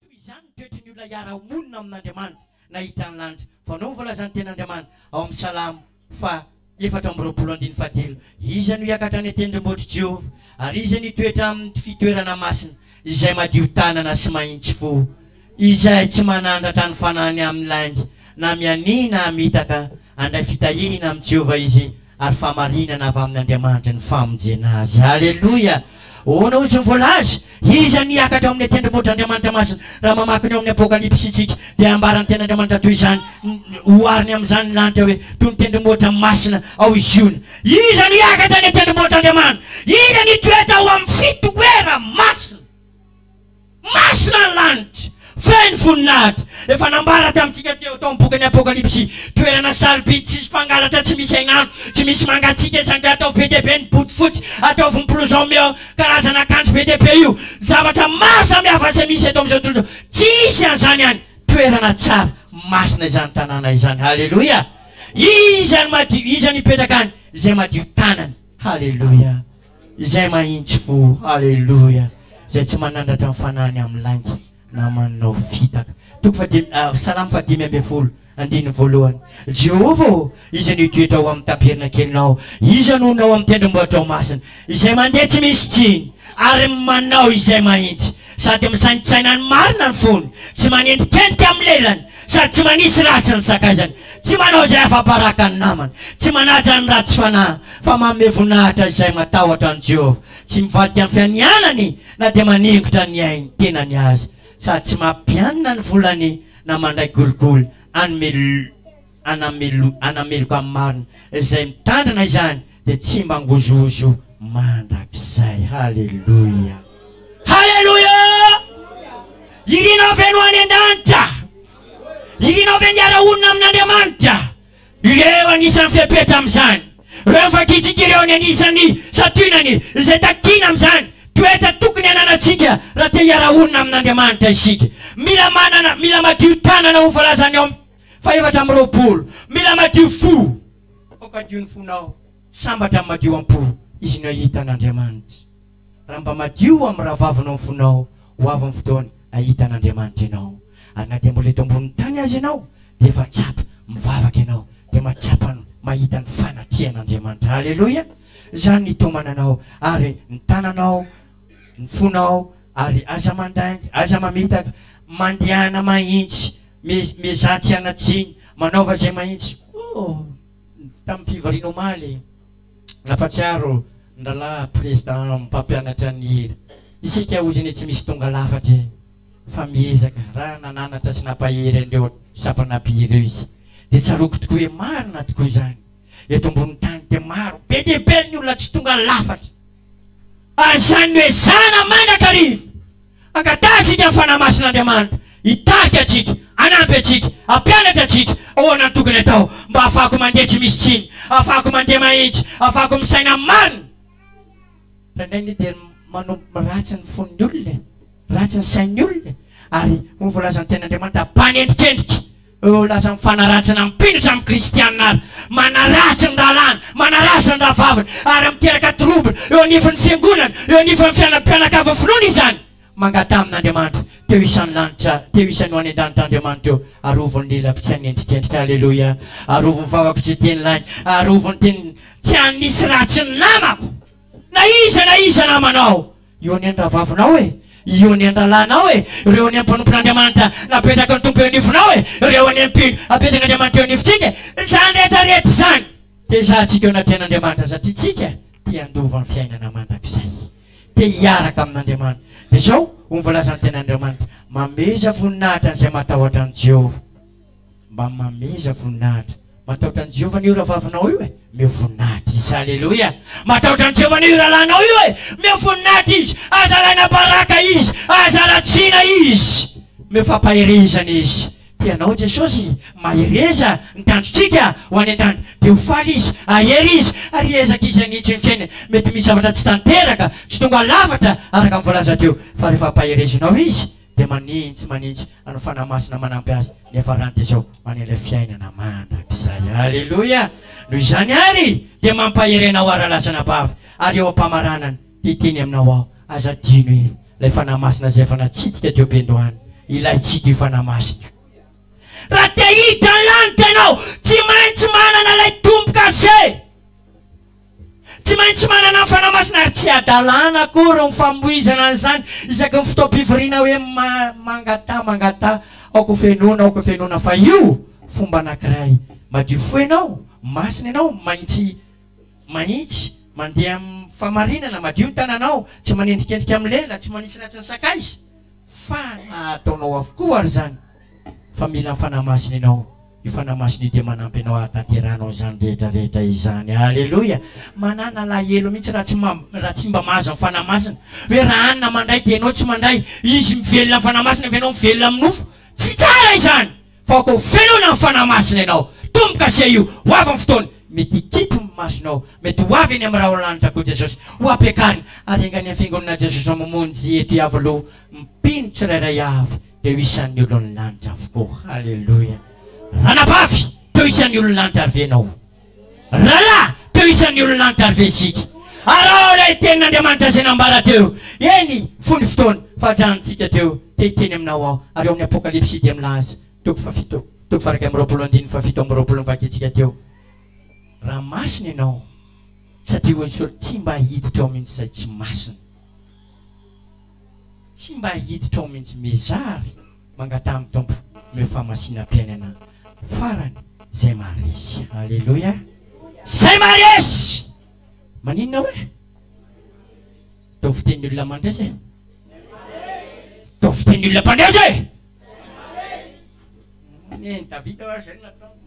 Toy izany ny toetry ny olona hiara-monina amin'Andriamanitra nahitany ny lanitra. Fanao ny voalazan'ny Tenin'Andriamanitra ao amin'ny Salamo faha efatra amby roapolo andininy fahadilo, Iza no hiakatra any an-tendrombohitr'i Jehovah? Ary iza no hitoetra amin'ny fitoerana masina? Izay madio tanana sy mahitsy fo, izay tsy manandratra ny fanahiny amin'ny lainga, na mianiana hamitaka, Handray fitahiana amin'i Jehovah izy, ary fahamarinana avy amin'Andriamanitry ny famonjena azy. Aleloia! Ahoana hozy no voalaza? Iza no hiakatra ao amin'ny tendrombohitr'Andriamanitra masina? Raha mamaky ny ao amin'ny Apokalypsy isika, dia ambaran'ny Tenin'Andriamanitra toy izany, ohariny amin'izany ny lanitra hoe toy ny tendrombohitra masina ao i Ziona. Iza no hiakatra any an-tendrombohitr'Andriamanitra? Iza no hitoetra ao amin'ny fitoerany masina? Masina ny lanitra, feno voninahitra. Efa nambara tamintsika teo tao amin'ny bokin'ny Apokalypsy, toerana sarobidy, tsisy mpangalatra, tsy misy hainano, tsy misy mangatsiaka izany dia ataovy be dia be ny bodofotsy, ataovy ny blouson io karazana akanjo be dia be io. Zavatra maro samihafa izay misy eto amin'izao tontolo izao, tsy hisy an'izany any. Toerana tsara, masina izany tanàna izany. Haleloia! Iza no madio? Iza no hipetraka any? Izay madio tanana. Haleloia! Izay mahitsiko, Aleloia, Izay tsy manandratra ny fanahiny amin'ny lainga na manao fitaka. Toko fahadimy, ah, Salamo fahadimy ambin'ny folo, andininy voalohany. Jehovah ô, iza no hitoetra ao amin'ny tabernakely-nao? Iza no honao amin'ny tendrombohitrao masina? Izay mandeha tsy misy tsiny, ary manao izay mahitsy. Sady misaintsaina ny marina ny fony, tsy manendrikendrika amin'ny lelany, sady tsy manisy ratsy ny sakaizany, tsy manao izay afa-baraka ny namany, tsy manaja ny ratsy fanahy, fa manome voninahitra izay matahotra an'i Jehovah, tsy mivadika ny fianianany na dia maningotra ny ain-tenany aza, sady tsy mampianina ny volany na mandray kolikoly hanome hanameloka ny marina. Izay mitandrina izany dia tsy mangozohozo mandrakizay. Haleloia! Haleloia! Irinao ve no any an-danitra? Irinao ve ny hiara-honina amin'Andriamanitra? Ireo anisan'ny fepetra amin'izany. Ireo ny vakintsika ireo ny anisan'ny santionany izay takiana amin'izany toetra tokony hananantsika raha te hiara-honina amin'Andriamanitra isika. Mila manana, mila madio tanana ho voalazan'ny ao amin'ny. Fahefatra amby roapolo, Mila madio fo, ampampadio ny fonao, tsy sambatra ny madio am-po, izy no ahita an' Andriamanitra. Raha mba madio amin'ny rahavavinao ny fonao, ho avy ny fotoana hahita an' Andriamanitra ianao, ary na dia mbola eto ambonin'ny tany aza ianao, dia efa tsapa, mivavaka ianao, dia mahatsapa ny mahita ny fanatrehan' Andriamanitra. Aleloia! Izany ny taomana anao, ary ny tananao. ny fonao ary aza mandainga, aza mamitaka, mandehana mahintsy, miezaha tsy hanatsiny, manaova izay mahintsy. Oh! tamin'ny fivoriana omaly, nampatsiaro ny Rahalahy Président mpampianatra ny hira, isika ozy anie tsy misy tonga lafatra e! fa miezaka, raha nananatra sy nampahery an'ireo sampana mpihira ireo izy, dia tsaroako tokoa hoe marina tokoa izany, eto ambonin'ny tany dia maro be dia be ny olona tsy tonga lafatra, Ary izany no ezahana mandrakariva hangatahantsika ny Fanahy Masin'Andriamanitra hitarika antsika, hanampy antsika, hampianatra antsika ahoana no tokony atao mba hahafahako mandeha tsy misy tsiny, hahafahako mandeha mahitsy, hahafahako misaina amin'ny marina. Indraindray anie dia manomboka ratsy ny fon'ny olona e, ratsy ny sain'ny olona e, ary hoy ny voalazan'ny Tenin'Andriamanitra, mpanendrikendrika. Eo lasa mifanaratsina mpino samy kristianina ary manaratsy ny rahalahiny, manaratsy ny rahavaviny ary miteraka trouble eo anivon'ny fiangonana, eo anivon'ny fianany mpianakavy finoana izany. Mangataha amin'Andriamanitra, teo isan'ny lanitra, teo isan'ny ho any an-danitra Andriamanitra eo, arovy ny lelako tsy hanendrikendrika, Aleloia, arovy ny vavako tsy hiteny lainga, arovy ny teniko tsy hanisy ratsy ny namako, na iza na iza namanao. Eo ny an-drahavavinao e! Eo ny an-drahalànao e! Reo ny mpanompon'Andriamanitra napetraky ny Tompo eo anivonao e! Reo ny mpino apetrak'Andriamanitra eo anivotsika e! Izany rehetra rehetra izany dia hizahantsika eo anatrehan'Andriamanitra satria tsika te handova ny fiainana mandrakizay. Te hiaraka amin'Andriamanitra. Dia izao ho voalazan'ny Tenin'Andriamanitra, Mameza voninahitra an'izay matahotra an'i Jeho. Mba mameza voninahitra. Matahotra an'i Jehovah anie io rahavavinao io e! Omeo voninahitra izy. Aleloia! Matahotra an'i Jehovah anie io rahalahinao io e! Omeo voninahitra izy. Aza alaina baraka izy. Aza ratsiana izy. Omeo fampaherezana izy. Tia anao Jesosy. Mahereza ny tanjontsika ho any an-tany. Dia ho faly izy. Hahery izy. Ary hiezaka izy hanitsy ny fiainany. Mety misy zavatra tsy tanteraka, tsy tonga lafatra araka ny voalaza teo. Fa rehefa ampaherezanao izy, dia manintsy manintsy anao fanahy masina manampy azy ny hafarany dia izao maneho ilay fiainana mandrakizay aleloia noho izany ary dia mampahery anao ary alasana bavy ary eo am-pamaranana dia hiteny aminao aho aza adino e ilay fanahy masina izay efa natsidika teo am-piandohana ilaintsika io fanahy masina io raha te hiditra ny lanitra ianao tsy maintsy manana ilay tombo-kase Tsy maintsy manana ny Fanahy Masina ary tsy hadalana akory ny famoizana an'izany isaky ny fotoam-pivoriana hoe mangataha mangataha aoka hofenoina aoka hofenoina fa io fomba anankiray madio fo ianao, masina ianao, mahintsy mahintsy mandeha amin'ny famarinana, madio ny tananao, tsy manendrikendrika amin'ny lela, tsy manisy ratsy ny sakaiza fa nahataonao avokoa ary izany fa mila ny Fanahy Masina ianao. Ny Fanahy Masina io dia manampy anao hahatanterahanao izany rehetra rehetra izany. Aleloia! Manàna alahelo mihitsy raha tsy ma, raha tsy mba mahazo ny Fanahy Masina. Hoe raha hanina mandray dia ianao tsy mandray. Izy mivelona ny Fanahy Masina fa ianao mivelona amin'ny nofo. Tsy tsara izany! Fa koa velona amin'ny Fanahy Masina ianao. Tombo-kase io! Ho avy ny fotoana. Mety hikipy ny masonao. Mety ho avy eny amin'ny rahona lanitra koa Jesosy. Ho ampiakarina. Ary enga ny Fiangonana Jesosy mamonjy eto Iavoloha. Mpino tsirairay avy. teo isan'ny olon'ny lanitra avokoa. Aleloia! Ranabavy, teo isan'ny olon'ny lanitra ary ve ianao? Rahalahy, teo isan'ny olon'ny lanitra ary ve isika? Araho ilay tenin'Andriamanitra izay nambara teo. Eny, foy ny fotoana, fahajanontsika teo, te hiteny aminao aho. Ary ao amin'ny Apokalypsy dia milaza, toko fahafito, toko faha-iraika amby roapolo, andininy fahafito amby roapolo ny vakintsika teo, Raha masina ianao, satria hoy ny soratra, tsy mba hiditra ao mihitsy izay tsy masina. Tsy mba hiditra ao mintsy Meja ary mangataha am Tompo omeo fahamasina piainana farany zay maharesy. Aleloia Zay maharesy Maninona hoe? Ataovy fitenin'ny olona mandresy e! Ataovy fitenin'ny olona mpandresy e! Zay maharesy! Nen'i Davida ho'a zay nataony.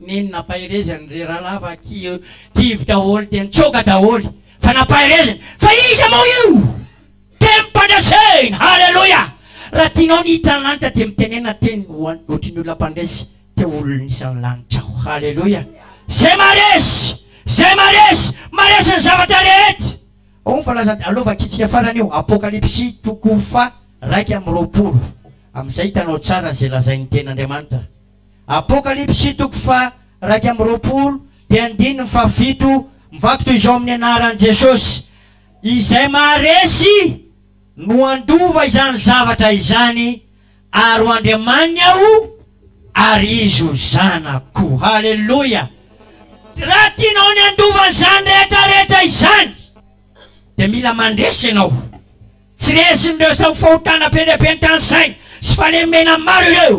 Neny nampaherezany ry Ralava aky kivy daholo dia nitsoaka daholo fa nampahereziny fa iza moa io temim-pandresena haleloia raha tianao ny hita ny lanitra dia mitenena teny ho an ohatry ny olona mpandresy te ho olon isan'ny lanitra aho haleloia zay maresy zay maresy maresy ny zavatra rehetra ao ny falazan aleo vakintsika farany io apokalipsy toko faha raika amby roapolo amizay hitanao tsara zay lazain'ny tenin'Andriamanitra Apokalypsy toko faha iraika amby roapolo dia andininy faha fito mivaky toy izao amin'ny anaran'i Jesosy, Izay maharesy no handova izany zavatra izany, ary ho Andriamaniny Aho ary izy ho zanako. Haleloia! Raha tianao ny handova izany rehetra rehetra izany dia mila mandresy ianao. Tsy resin'ireo sao fahotana be dia be ny tany saina sy fahalemena maro ireo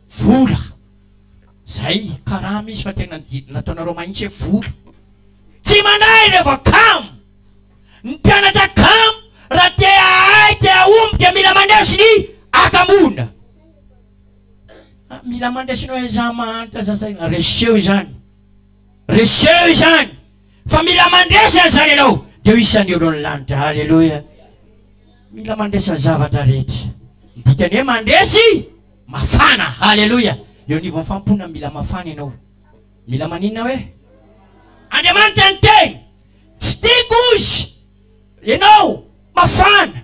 Vola. Zay karama izy fa tena ny didy nataonareo mahintsy hoe vola. Tsy manahy rehefa kamo. Ny mpianatra kamo raha te hahay te hahomby dia mila mandresy ny hakamoana. Ah mila mandresy ny hoe za mahantra za zay. Reseho izany. Reseho izany. Fa mila mandresy an'izany ianao dia ho isan'ny olon'ny lanitra. Haleloia. Mila mandresy ny zavatra rehetra. Ny dikany hoe mandresy. Mafana! Haleloia! Eo anivon'ny fanompoana mila mafana ianao. Mila maninona hoe? Andriamanitra ny teny. Tsy tiako ozy ianao mafana,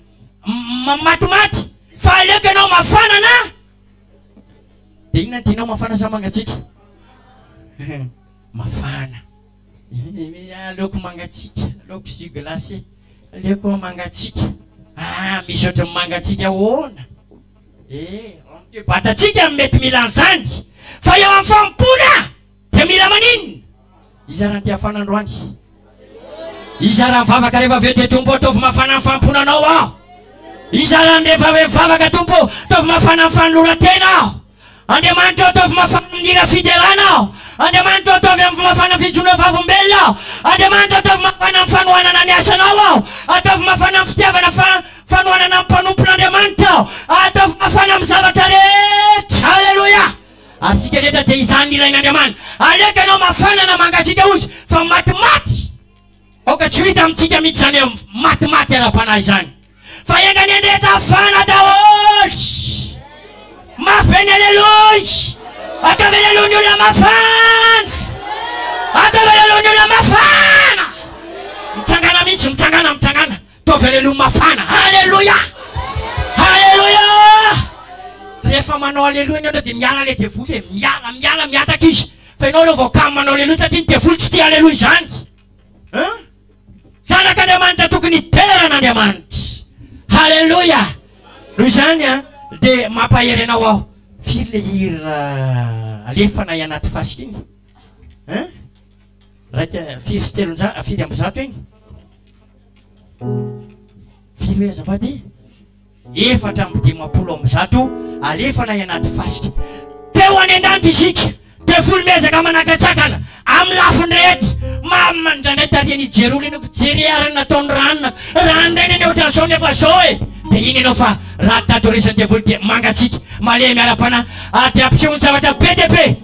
ma, matimaty, fa aleoko ianao mafana na. Dia inona ny tianao mafana sa mangatsiaka? Mafana. Aleoko mangatsiaka, aleoko jus glacé, aleoko mangatsiaka. Ah, misy ohatran'ny mangatsiaka ahoana? Eo amin'ity boatin-tsika no mety mila an'izany, fa eo amin'ny fanompoana dia mila maninona? Hizara ny tiafana androany. Hizara ny vavaka rehefa avy eo dia Tompo ô ataovy mafana ny fanompoana Anao aho. Hizara ny rehefa avy amin'ny vavaka Tompo ô, ataovy mafana ny fanoloran-tena aho. Andriamanitra ô ataovy mafana amin'ny hira fiderana aho Andriamanitra ô ataovy amvy mafana ny fijoroa vavolombelona aho Andriamanitra ô ataovy mafana amin'ny fanohanana ny asanao aho Ataovy mafana amin'ny fitiavana fa fanohanana ny mpanompon'Andriamanitra aho Ah ataovy mafana amin'ny zavatra rehetra Haleloia Ary isika rehetra dia izany nilain'Andriamana Aleoko ianao mafana na mangatsiaka ozy fa matimaty Aoka tsy ho hita amintsika mihitsy izany matimaty ara-panahy izany, fa enga anie ndeha tafana daholo. Mafy be ny aleloia! Ataovy aleloia ny olona mafana! Ataovy aleloia ny olona mafana! Mitsangana mihitsy, mitsangana, mitsangana. Ataovy aleloa mafana. Aleloia! Aleloia! Rehefa manao aleloa ianao indray dia miala ilay devoly e. Miala, miala, mihataka izy. Fa ianao aloha vao kamo manao aleloa satria ny devoly tsy tia aleloa izany. Hein? Zanak'Andriamanitra tokony hidera an'Andriamanitra. Aleloia! Noho izany an, dia mampahery anao aho. Firy ilay hira alefanay anaty fasika iny? Hein? Iraika, firy sy telonjato, firy amby zato iny? Firy hoe azafady e? Efatra amby dimampolo amby zato alefana any anaty fasika. Teo any an-danitra isika, devoly miezaka manakatsakana amin'ny lafiny rehetra. Mamina indraindray tarihan'i Jerona ianao, ka jereo ary ny nataon'i Rana. Raha indray ny an'i Odrason efa zao e! Dia iny ianao fa raha tadoresan'ny devoly dia mangatsiaka, malemy ara-panahy, ary dia ampisehoany zavatra be dia be.